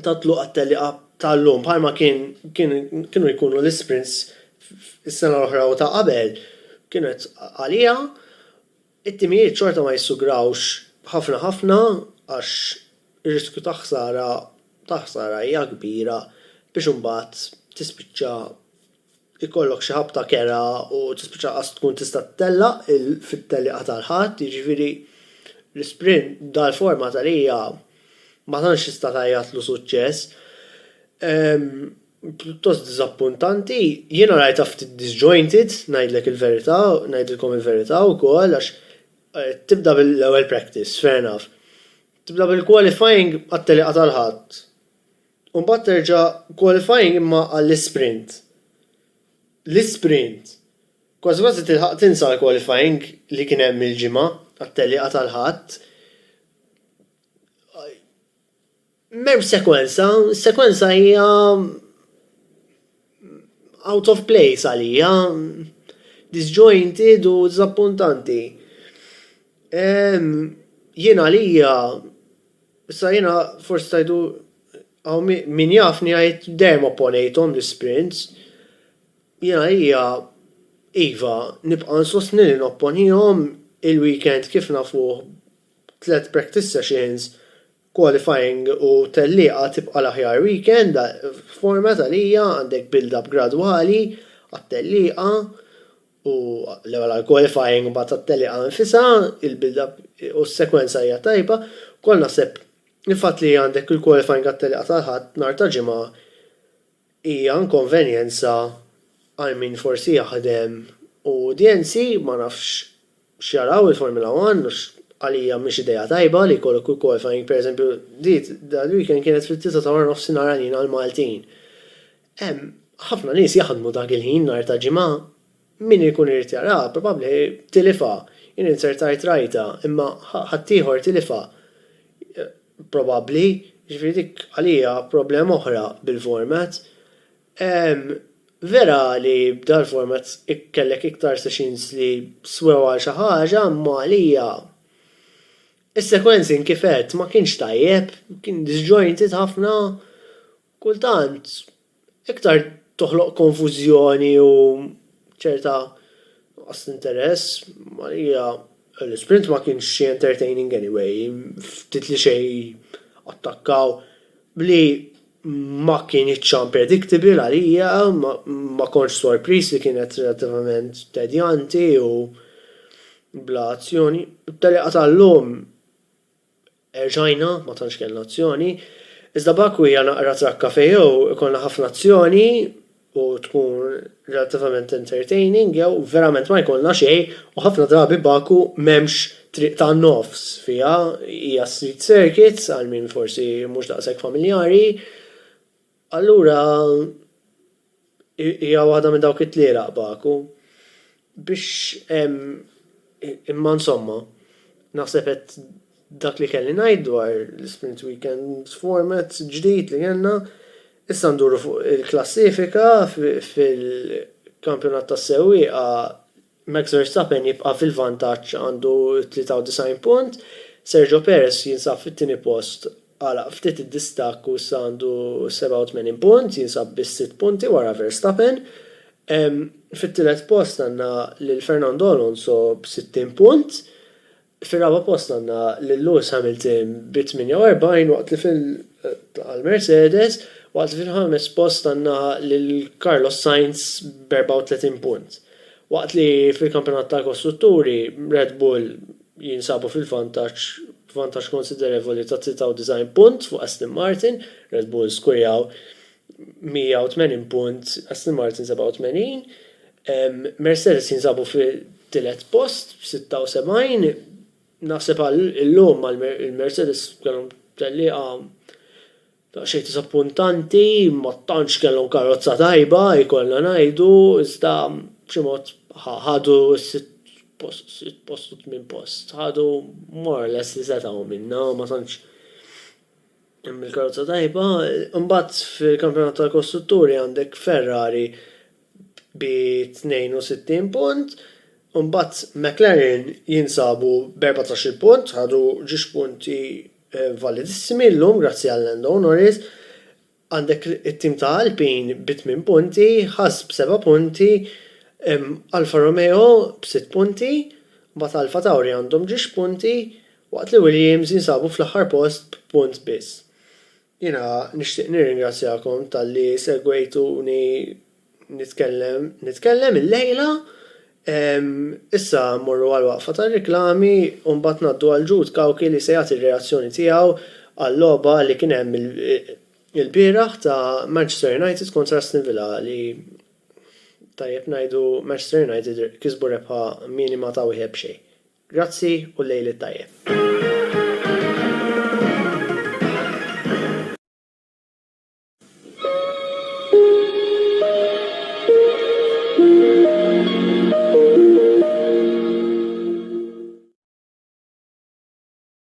tat-tluq għat-tellieqa tal-lum bħalma kien kien kienu jkunu l-isprints is-sena l-oħra u ta' qabel kienet għaliha it-timijiet xorta ma jissugrawx ħafna ħafna għax ir-riskju ta' ħsara ta' ħsara hija kbira biex imbagħad tispiċċa ikollok xi ħabta kerha u tispiċċa lanqas tkun tista' ttellaq fit-tellieqa tal-Ħadd, jiġifieri l-isprint b'dal-forma ta' rija ma tantx tista' tgħajjatlu suċċess. Pjuttost diżappuntanti. Jiena rajtha ftit disjointed, ngħidlek il-verità, ngħidilkom il-verità wkoll għax tibda bil-ewwel practice, fair enough. Tibda bil-qualifying għat-tellieqa tal-Ħadd. U mbagħad terġa' qualifying imma għall-isprint. L-isprint. Kważi kważi tilħaq tinsa l-qualifying li kien hemm il-ġimgħa għat-tellieqa tal-Ħadd. M'hemmx sekwenza, is-sekwenza hija out of place għalija, disjointed u diżappuntanti. Ehm, jien għalija, issa jiena forsi tgħidu hawn min jafni jgħid dejjem opponejthom l-isprints. Jien għalija, iva, nibqa' nsostni li nopponihom il-weekend kif nafuh tliet practice sessions, Qualifying u tellieqa tibqa' l-aħjar weekend f'format għalija, għandek build up gradwali għat-tellieqa u l-ewwel għall-qualifying mbagħad għat-tellieqa nfisha, il-build up u s-sekwenza hija tajba, ukoll naħseb il-fatt li għandek il-qualifying għat-tellieqa tal-Ħadd nhar ta' Ġimgħa Hija inkonvenjenza għal min forsi jaħdem u udjenzi ma nafx x'jaraw il-Formula One għax għalija mhix idea tajba li jkollok il-qualifying pereżempju di dal-weekend kienet fit-tlieta ta' waranofsinhar għalina l-Maltin. Hemm ħafna nies jaħdmu dak il-ħin nhar ta' Ġimgħa. Min ikun irid jaraha probabbli tilifha. Jien inzertajt rajtha, imma ħaddieħor tilifha probabbli, jiġifieri dik għalija problema oħra bil-format. Vera li b'dal-format kellek iktar sessions li swew għal xi ħaġa, imma għalija is-sequencing kif għedt ma kienx tajjeb, kien disjointed ħafna kultant iktar toħloq konfużjoni u ċerta nuqqas t'interess, għalija l-isprint ma kienx xi entertaining anyway, ftit li xejn attakkaw b'li ma kinitx unpredictable għalija, ma kontx sorpriż li kienet relattivament tedjanti u bla azzjoni. It-tellieqa tal-lum. Erġajna, ma tantx kellna azzjoni. Iżda b'hekk u hija naqra trakka fejjew, ikollna ħafna azzjoni u tkun relattivament entertaining jew verament ma jkollna xejn u ħafna drabi Baku m'hemmx triq ta' nofs fiha, hija street circuit għal min forsi mhux daqshekk familjari. Allura hija waħda minn dawk it-tlielaq baku biex imma insomma naħseb qed dak li kelli ngħid dwar l-Isprint Weekend format ġdid li kellna. Issa nduru fuq il-klassifika fil-kampjonat tas-sewwieqa. Max Verstappen jibqa' fil-vantaġġ għandu 93 punt, Sergio Perez jinsab fit-tieni post għalaq ftit id-distakk u issa għandu 87 punt, jinsab biss sitt punti wara Verstappen. Fit-tielet post għandna lil Fernando Alonso b'60 punt, Fir-raba' post għandna lil Lewis Hamilton bi 48 waqt li fil għal Mercedes, waqt li fil-ħames post għandna lil Carlos Sainz b' 34 punt. Waqt li fil-Kampjonat tal-Kostrutturi, Red Bull jinsabu fil-vantaġġ b'vantaġġ konsiderevoli ta' 93 punt fuq Aston Martin, Red Bull skurjaw 180 punt, Aston Martin 87, Mercedes jinsabu fit-tielet post b'76. Naħseb għal illum għal il-Mercedes kellhom tellieqa daqsxejn diżappuntanti, ma tantx kellhom karozza tajba jkollna ngħidu, iżda b'xi mod ħadu s-sitt post, sitt post u tmien post, ħadu more or less li setgħu minnha, ma tantx. Hemm il-karozza tajba. Imbagħad fil-Kampjonat tal-Kostrutturi għandek Ferrari bi 62 punt, u mbagħad McLaren jinsabu b'14-il punt, ħadu ġiex punti validissimi llum grazzi għal Lando Norris. Għandek it-tim ta' Alpine bi tmien punti, Haas b'seba' punti, Alfa Romeo b'sitt punti, mbagħad AlphaTauri għandhom ġiex punti, Waqt li Williams jinsabu fl-aħħar post b'punt biss. Jiena nixtieq nirringrazzjakom talli segwejtuni nitkellem, nitkellem illejla. Ehm, issa mmorru għall-waqfa tar-riklami u mbagħad ngħaddu għal Jude Cauchi li se jagħti r-reazzjoni tiegħu għal-logħba li kien hemm ilbieraħ ta' Manchester United kontra Aston Villa li, tajjeb ngħidu, Manchester United kisbu rebħa minima ta' wieħed b'xejn. Grazzi u l-lejl it-tajjeb.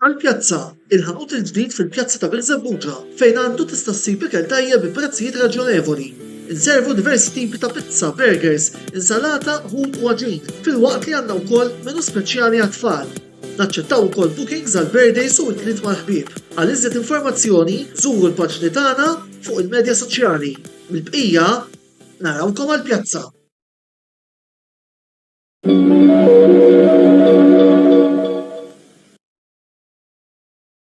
Għall-pjazza, il-ħanut il-ġdid fil-pjazza ta' Birżebbuġa fejn għandu tista' ssib ikel tajjeb bi prezzijiet raġjonevoli. Inservu diversi tipi ta' pizza, burgers, insalata, ħut u għaġin, filwaqt li għandna wkoll menu speċjali għat-tfal. Naċċettaw ukoll bookings għal birthdays u intliet mal-ħbieb. Għal iżjed informazzjoni żuru l-paġni tagħna fuq il-medja soċjali. Mill-bqija, narawkom għall-pjazza!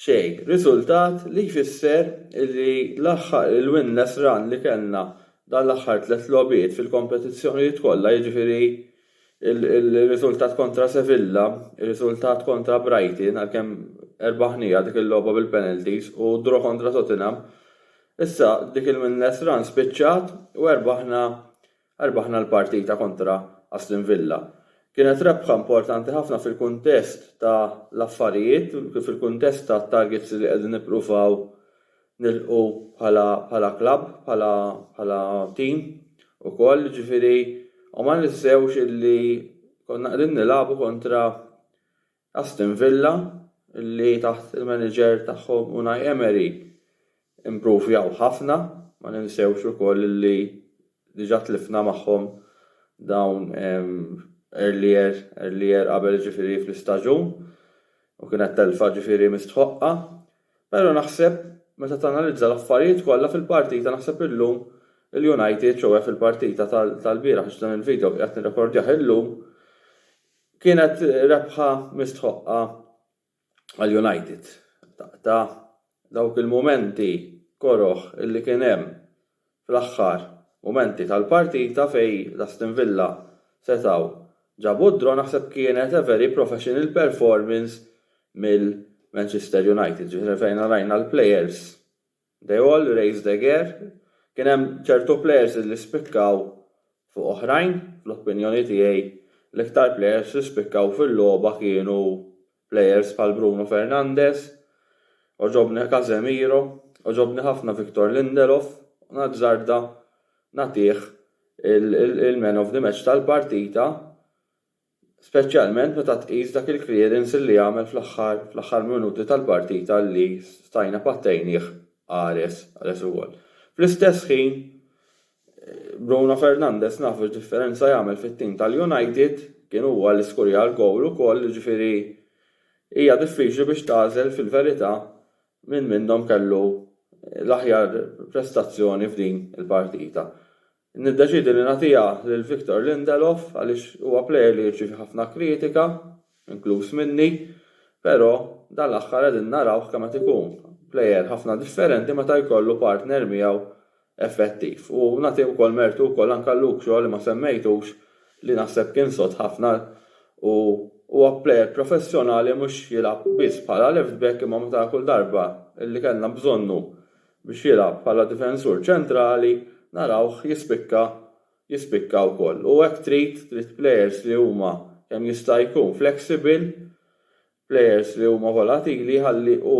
Xejn. Riżultat li jfisser li l-aħħar il-winless run li kellna dan l-aħħar tliet logħbiet fil-kompetizzjonijiet kollha, jiġifieri r-riżultat kontra Sevilla, ir-riżultat kontra Brighton, għalkemm erbaħnieha dik il-logħba bil-penalties, u d-draw kontra Tottenham, issa dik il-winless run spiċċat u erbaħna Rbaħna l-partita kontra Aston Villa. Kienet rebħa importanti ħafna fil-kuntest ta' l-affarijiet, fil-kuntest ta' targets li qegħdin nippruvaw nilħqu bħala bħala club, bħala bħala team ukoll, jiġifieri u ma ninsewx illi konna qegħdin nilagħbu kontra Aston Villa, li taħt il-manager tagħhom Unai Emery improvjaw ħafna, ma ninsewx ukoll li diġà tlifna magħhom dawn earlier, earlier qabel ġifieri fl-istaġun u kienet telfa ġifieri mistħoqqa. Però naħseb meta tanalizza l-affarijiet kollha fil-partita naħseb illum il-United, ċoe fil-partita tal-bieraħ għax dan il-video qiegħed nirrekordjah illum, Kienet rebħa mistħoqqa għal United. Ta' dawk il-mumenti koroh li kien hemm fl-aħħar mumenti tal-partita fejn l-Aston Villa setgħu ġabu d-draw naħseb kienet a very professional performance mill-Manchester United ġifieri fejn rajna l-players They all raised a gare, kien hemm ċertu plejers li spikkaw fuq oħrajn, fl-opinjoni tiegħi l-iktar plejers li spikkaw fil-logħba kienu plejers bħal Bruno Fernandes, għoġobni Casemiro, għoġobni ħafna Victor Lindelof u nazzarda nagħtih il-man of the match tal-partita speċjalment meta tqis dak il-clearance li għamel fl-aħħar fl-aħħar minuti tal-partita li stajna pattejnih qares qares ukoll. Fl-istess ħin Bruno Fernandes nafu x'differenza jagħmel fit-tim tal-United, kien huwa li skurja l-gowl ukoll jiġifieri hija diffiċli biex tagħżel fil-verità min minnhom kellu l-aħjar prestazzjoni f'din il-partita. Niddeċiedi li nagħtiha lil Victor Lindelof għaliex huwa plejer li jirċievi ħafna kritika, inkluż minni, però dan l-aħħar qegħdin narawh kemm qed ikun plejer ħafna differenti meta jkollu partner miegħu effettiv. U nagħti wkoll mertu wkoll anke għal Luke Shaw li ma semmejtux li naħseb kien sod ħafna u huwa plejer professjonali mhux jilgħab biss bħala left back imma meta kull darba li kellna bżonnu biex jilgħab bħala difensur ċentrali narawh jispikka jispikka wkoll. U hekk trid, trid plejers li huma kemm jista' jkun flexible, plejers li huma volatili ħalli u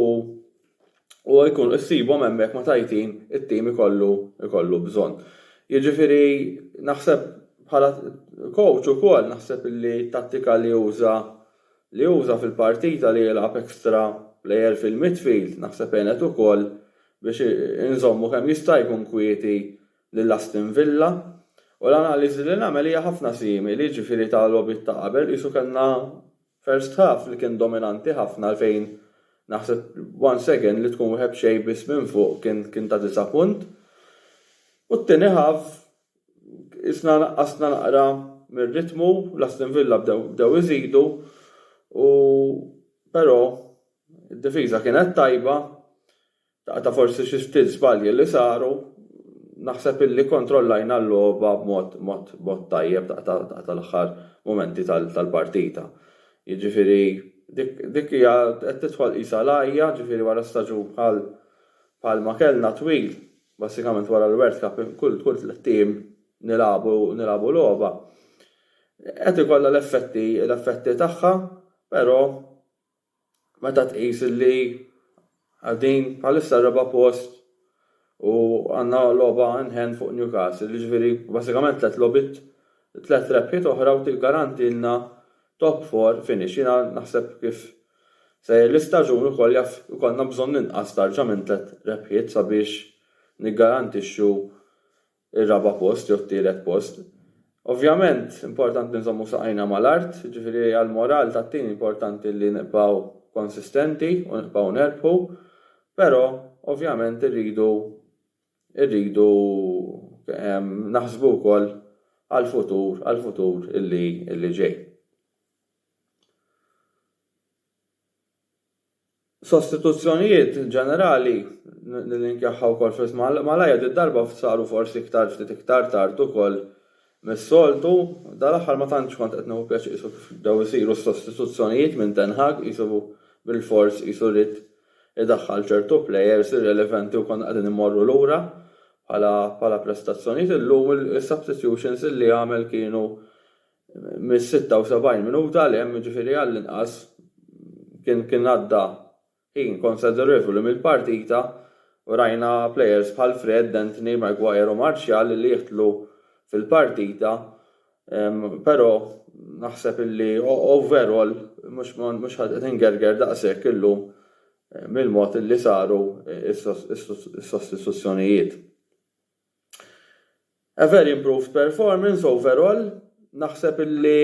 u jkun issibhom hemmhekk meta jtin it-tim ikollu ikollu bżonn. Jiġifieri naħseb bħala coach ukoll naħseb li t-tattika li uża li uża fil-partita li jilgħab extra player fil-midfield naħseb għenet ukoll biex inżommu kemm jista' jkun kwieti lil Aston Villa u l-analiżi li nagħmel hija ħafna simili jiġifieri ta' logħbiet ta' qabel qisu kellna first half li kien dominanti ħafna għalfejn naħseb once again li tkun wieħed b'xejn biss minn fuq kien ta' disa' punt u t-tieni half Qisna naqqasna naqra mir-ritmu, l-Aston Villa bdew iżidu u però d-difiża kienet tajba, ta' forsi xi ftit żbalji li saru, naħseb illi kkontrollajna l-logħba b'mod tajjeb ta' tal-aħħar mumenti tal-partita. Jiġifieri dik hija qed tidħol qisha l-għajja, jiġifieri wara staġun bħal ma kellna twil, Basikament wara l-World Cup kull kull tlett ijiem nilagħbu nilagħbu logħba. Qed ikollha l-effetti l-effetti tagħha, però meta tqis li qegħdin bħalissa r-raba' post u għandna logħba in hand fuq Newcastle, jiġifieri basikament tliet logħbiet tliet rebħiet oħra u tiggarantilna top four finish. Jiena naħseb kif Sejjer l-istaġun ukoll jaf ikollna bżonn inqas tarġa minn tliet rebħiet sabiex niggarantixxu r-raba' post jew t-tielet post. Ovvjament importanti nżommu saqajna mal-art, jiġifieri għall-moral tat-tim importanti li nibqgħu konsistenti u nibqgħu nerbħu, però ovvjament irridu irridu naħsbu wkoll għall-futur għall-futur li ġej. Sostituzzjonijiet ġenerali nillinkjahha wkoll fl-ism malajr did-darba saru forsi iktar ftit iktar tard ukoll mis-soltu. Dal-aħħar ma tantx kont qed nieħu pjaċir qisu kif bdew isiru s-sostituzzjonijiet minn Ten Hag qisu bilfors qisu ried idaħħal ċertu plejers irrelevanti u konna qegħdin immorru lura bħala prestazzjonijiet. Illum is-substitutions li għamel kienu Mis-76 minuta 'l hemm, jiġifieri għall-inqas, kien għadda ħin konsiderevoli mill-partita u rajna plejers bħal Fred, Antony, Maguire u Martial li jidħlu fil-partita, però naħseb li overall mhux qed ingerger daqshekk illum mill-mod li saru s-sostituzzjonijiet. A very improved performance overall, naħseb illi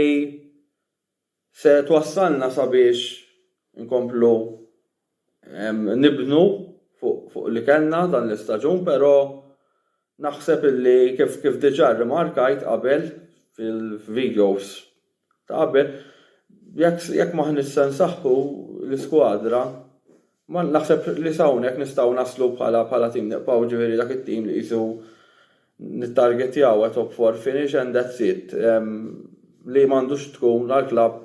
se twassalna sabiex inkomplu nibnu fuq li kellna dan l-istaġun pero naħseb illi kif diġa rrimarkajt qabel fil-videos ta' qabel, jekk jekk m'aħniex se nsaħħu l-iskwadra, ma naħseb li sa hawnhekk nistgħu naslu bħala bħala tim nibqgħu ġifieri dak it-tim li qisu nittargettjaw a top four finish and that's it li m'għandux tkun għall-klabb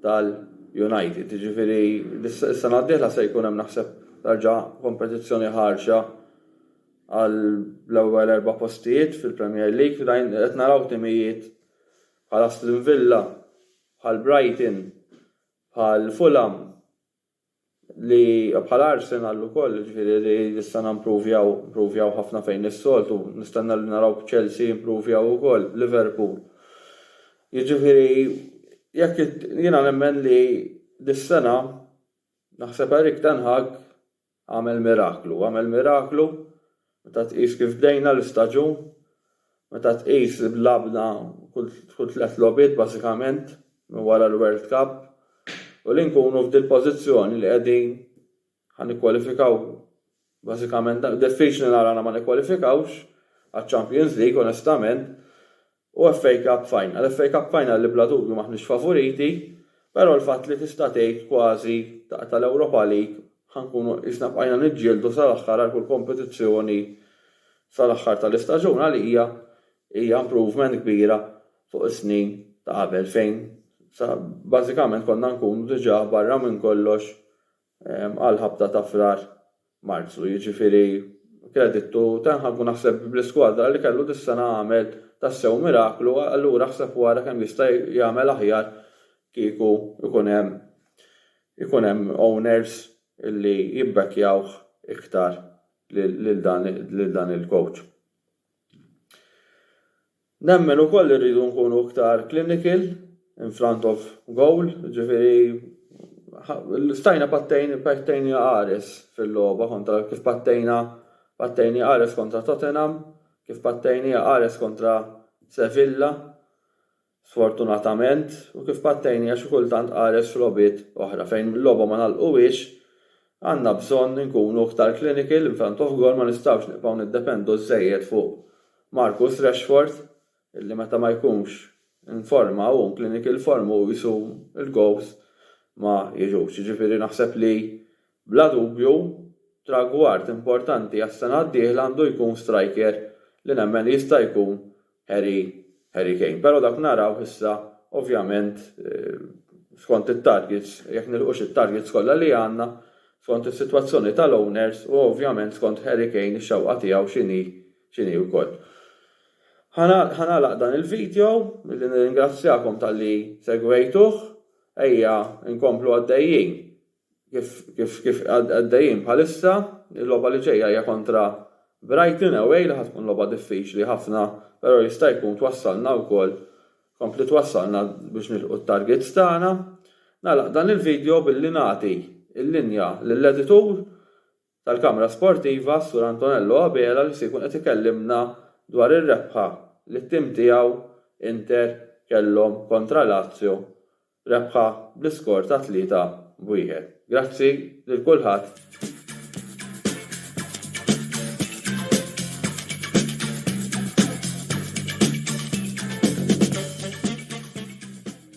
tal-United. Jiġifieri s-sena d-dieħla se jkun hemm naħseb terġa' kompetizzjoni ħarxa għall-ewwel erba' postijiet fil-Premier League fejn qed naraw timijiet bħal Aston Villa, bħal Brighton, bħal Fulham, li bħal Arsenal ukoll, ġifieri li s-sena mpruvjaw, mpruvjaw ħafna fejn is-soltu, nistenna li naraw b'Chelsea jimpruvjaw ukoll, Liverpool. Jiġifieri jekk jiena nemmen li dis-sena naħseb Erik ten Hag Għamel miraklu. Għamel miraklu meta tqis kif bdejna l-istaġun, meta tqis li lagħbna kull tliet logħbiet bażikament minn wara l-World Cup u li nkunu f'dil-pożizzjoni li qegħdin ħa nikkwalifikaw bażikament, diffiċli nara li ma nikkwalifikawx għaċ-Champions League onestament, u FA Cup Final. FA Cup Final li bla dubju m'aħniex favoriti, però l-fatt li tista' tgħid kważi ta' tal-Europa League ħa nkunu qisna bqajna niġġieldu sal-aħħar għal kull kompetizzjoni sal-aħħar tal-istaġun għalija hija improvement kbira fuq is-snin ta' qabel fejn sa bażikament konna nkunu diġà barra minn kollox għal ħabta ta' Frar, Marzu, jiġifieri kredittu Tenhag u naħseb bl-iskwadra li kellu dis-sena għamel tassew miraklu allura aħseb u ara kemm jista' jagħmel aħjar kieku jkun hemm ikun hemm owners li jibbekkjawh iktar lil dan il-coach. Nemmen ukoll li rridu nkunu iktar clinical, in front of goal, jiġifieri stajna pattejn, pattejni qares fil-logħba kontra kif pattejna pattejni qares kontra Tottenham, kif pattejniha qares kontra Sevilla, sfortunatament, u kif pattejniha xi kultant qares f'logħbiet oħra fejn il-logħba ma ngħalquhiex, Għandna bżonn inkunu iktar clinical in front of goal ma nistgħux nibqgħu niddependu żżejjed fuq Marcus Rashford illi meta ma jkunx in forma u in clinical form hu qisu il goals ma jiġux. Jiġifieri naħseb li bla dubju tragward importanti għas-sena d-dieħla għandu jkun striker li nemmen li jista' jkun Harry, Harry Kane. Però dak narawh issa ovvjament skont it-targets, jekk nilħqux it-targets kollha li għandna, skont is-sitwazzjoni tal-owners u ovvjament skont Harry Kane ix-xewqa tiegħu x'inhi x'inhi wkoll. Ħa nagħlaq dan il-video billi nirringrazzjakom talli segwejtuh, ejja nkomplu għaddejjin kif kif għaddejjin bħalissa, il-logħba li ġejja hija kontra Brighton away li ħa tkun logħba diffiċli ħafna però jista' jkun twassalna wkoll tkompli twassalna biex nilħqu t-targets tagħna. Nagħlaq dan il-video billi nagħti l-linja lill-editur tal-Kamra Sportiva, s-Sur Antonello Abela li se jkun qed ikellimna dwar ir-rebħa li t-tim tiegħu, Inter, kellhom kontra Lazio, rebħa bl-iskor ta' tlieta b'wieħed. Grazzi lil kulħadd.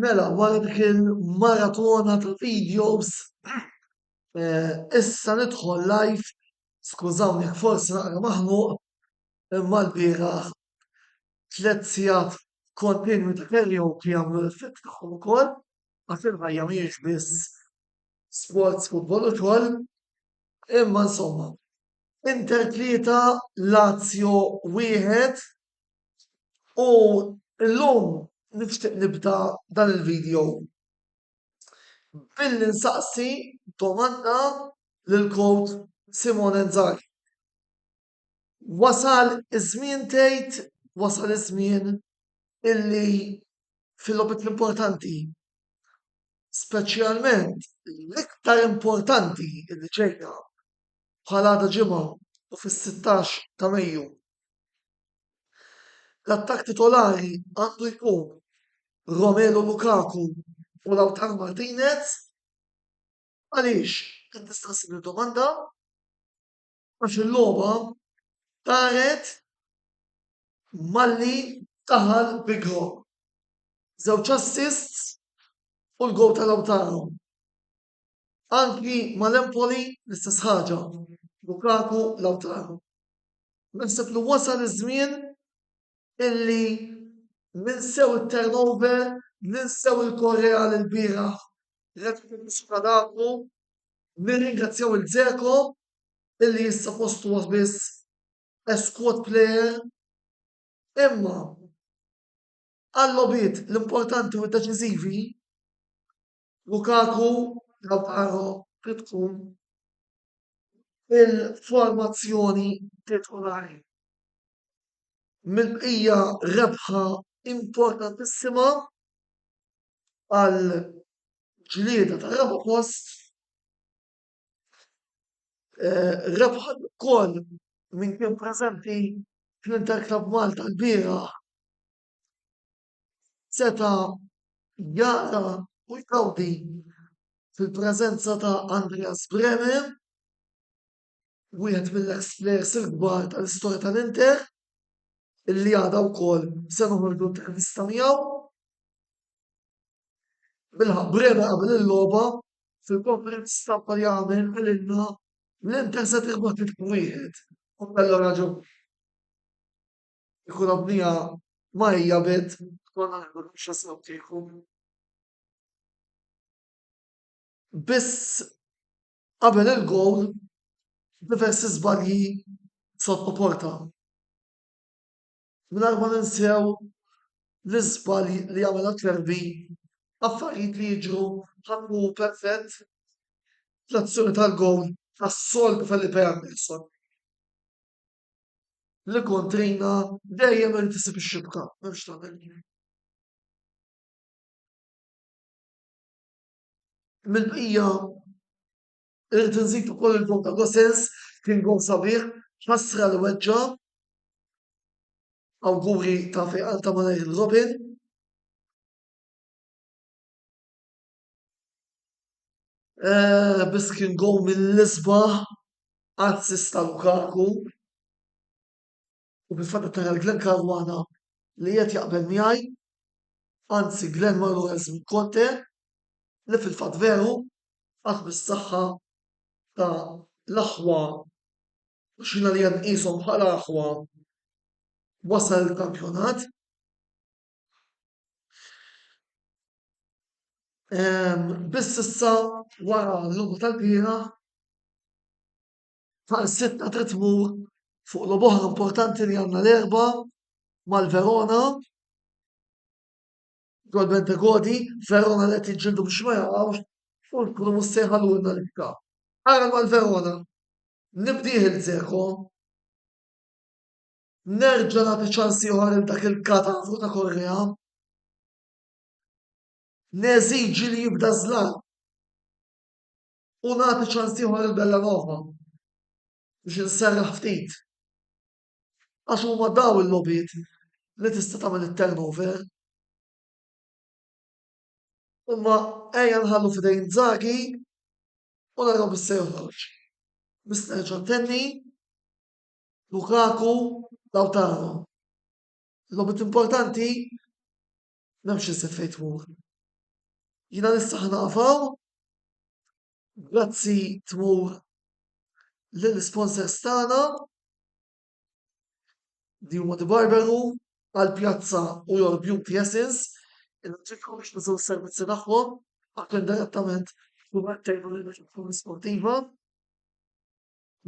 Mela, wara dik il-maratona ta' videos, eh, issa nidħol live, skużawni jekk forsi naqra maħnuq, imma l-bieraħ tliet sigħat kontinwi ta' karaoke jagħmlu l-effett tagħhom ukoll għax il-ħajja mhijiex biss sports, futbol u xogħol. Imma insomma, Inter tlieta, Lazio wieħed u llum nixtieq nibda dan il-video billi nsaqsi domanda lill-coach Simone Inzaghi. Wasal iż-żmien tgħid, wasal iż-żmien illi fil-logħbiet l-importanti, speċjalment l-iktar importanti illi ġejja bħal għada Ġimgħa u fis-sittax ta' Mejju, l-attakk titolari għandu jkun Romelu Lukaku u Lautaro Martinez, għaliex? Din tista' ssir id-domanda. Għax il-logħba daret malli daħal Bigro. Żewġ assists u l-gowl ta' Lautaro. Anki mal-Empoli l-istess ħaġa, Lukaku, Lautaro. Naħseb li wasal iż-żmien illi ninsew it-turnover, ninsew il-Korea l-bieraħ, Red Bull Nirringrazzjaw il-Dzeko illi issa fost huwa biss squad player imma għal-logħbiet l-importanti u d-deċiżivi Lukaku Lautaro trid tkun il-formazzjoni titolari. Mill-bqija rebħa importantissima għal ġlieda tar-raba' post Rebħa wkoll min kien preżenti fl-Inter Club Malta lbieraħ seta' jara u jgawdi fil-preżenza ta' Andreas Bremer, wieħed mill-eks plejers il-kbar tal-istorja tal-Inter, illi għada wkoll se noħorġu intervista miegħu. Bilħaqq Bremer qabel il-logħba fil-konferenza stampa jagħmel qalilna li l-Interza tirbaħ tliet minn wieħed u kellha raġun. L-ekonomija ma hija bid konna nagħmlu l-mixja sew kieku. Biss qabel il-gowl diversi żbalji sottoporta. Mingħajr ma ninsew l-iżbalji li għamel Acerbi, affarijiet li jiġru ħadd mhu perfett, l-azzjoni tal-gowl tas-soltu Felipe Anderson li kontrina dejjem irid isib ix-xibka, m'hemmx tagħmel. Mill-bqija Irrid inżid ukoll il-vot ta' Gosens, kien gowl sabiħ, ħasra li weġġa'. Awguri ta' fejqan ta' malajr lil Robin. Eh, biss kien gowl mill-isbaħ, assist ta' Lukaku. U fil-fatt qed nara lil Glenn Caruana li qiegħed jaqbel miegħi, anzi Glenn marru għeżżmu Conte, li fil-fatt veru qatt bis-saħħa ta' l-aħwa u x'jiena li hemm qishom bħala aħwa wasal il-kampjonat. Biss issa wara l-logħba tal-bieraħ Taqsitna trid tmur fuq logħba oħra importanti li għandna l-erba mal-Verona dwar Bentegodi, Verona li qed jiġġieldu biex ma jaqgħux u nkunu mhux se jħallulna l-ikka. Ara mal-Verona, nibdih il-Zeko, nerġa' nagħti ċans ieħor il dak il-katavru ta' Korrea, neżiġi li jibda żlan u nagħti ċans ieħor lil Bellanova biex inserraħ ftit. Għax huma daw il-lobiet li tista' tagħmel it-turnover. Imma ejja nħallu f'idejn Zagi u naraw bis se joħroġ. Bis nerġa' ntenni Lukaku Lautaro. Lobit importanti M'hemmx iżjed fejn tmur. Jiena nista' ħa naqaf hawn. Grazzi tmur lill-isponsors tagħna li huma The Barber Room, Al Piazza u Your Beauty Essence. Inħeġġiġkom biex tużaw is-servizzi tagħhom għax indirettament tkunu qed tgħinu lil natura sportiva.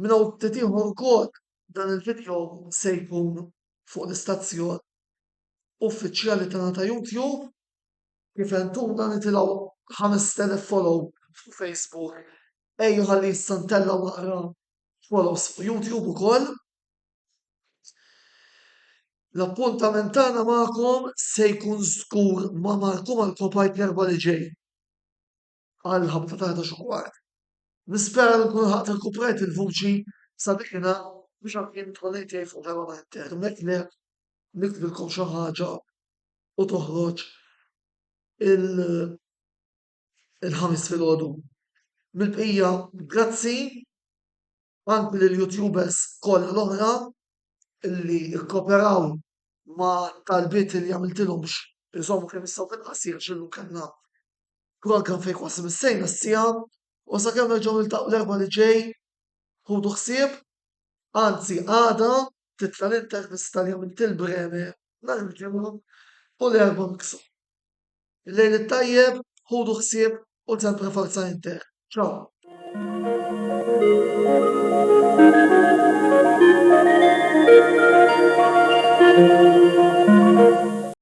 Minn hawn ftit ieħor ukoll dan il-vidjow se jkun fuq l-istazzjon uffiċjali tagħna ta' YouTube kif għentuna nitilgħu 5000 follow fuq Facebook ejja ħalli issa ntellgħu naqra follows fuq YouTube ukoll. L-appuntament tagħna magħkom se jkun żgur ma' Marco Marco Pipe l-erbgħa li ġej. għall-ħabta tal-11 u kwart. Nispera li nkun lħaqt irkuprajt il-vuċi sabiħna biex anki nidħol ngħid fuq darba ma inter jekk le niktbilkom xi ħaġa u toħroġ il-Ħamis filgħodu. Mill-bqija grazzi anki lill-YouTubers kollha l-oħra li kkooperaw ma' talbiet li għamiltilhom biex iżommu kemm jistgħu fil-qasir għax illum kellna Xogħol kan fejn kważi missejna s-siegħa u sakemm nerġgħu niltaqgħu l-Erbgħa li ġej ħudu ħsieb, anzi għada titla' l-intervista li għamilt lil Bremer nhar il-Ġimgħa u l-Erbgħa miksu. Il-lejl it-tajjeb, ħudu ħsieb u sempre Forza Inter. Ciao.